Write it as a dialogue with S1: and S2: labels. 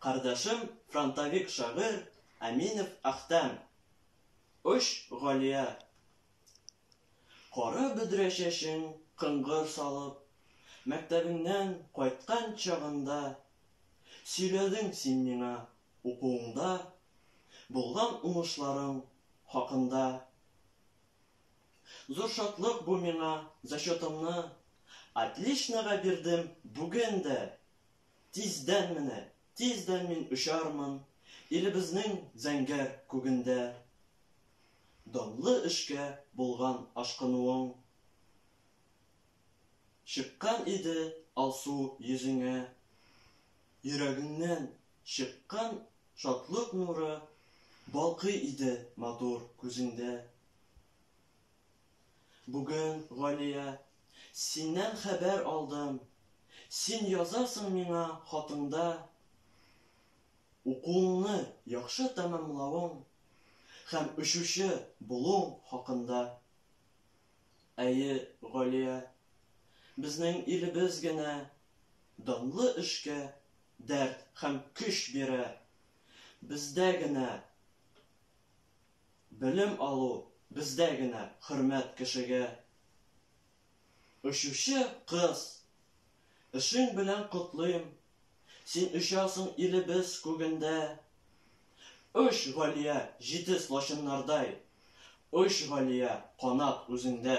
S1: Кардәшем фронтовик шагыйрь Әминов Әхтәм. Оч, Галия! Кара бөдрә чәчен кыңгыр салып, мәктәбеңнән кайткан чагында сөйләдең син миңа укуыңда булган уңышларың хакында. Зур шатлык бу миңа, зачетымны Отличнога бирдем бүген дә! Тиздән менә, тиздән мин очармын Илебезнең зәңгәр күгендә. Данлы эшкә булган ашкынуың Чыккан иде алсу йөзеңә. Йөрәгеңнән чыккан шатлык нуры Балкый иде матур күзеңдә. Бүген, Галия, синнән хәбәр алдым, син язасың миңа хатыңда, укуыңны яхшы тәмамлавың һәм очучы булуың хакында. Әйе, Галия, безнең илебез генә данлы эшкә дәрт һәм көч бирә, бездә генә Белем алу бездә генә хөрмәт кешегә. Очучы кыз! Эшең белән котлыйм, Син очасың илебез күгендә. Оч, Галия, җитез лачыннардай, Оч, Галия, канат үзеңдә.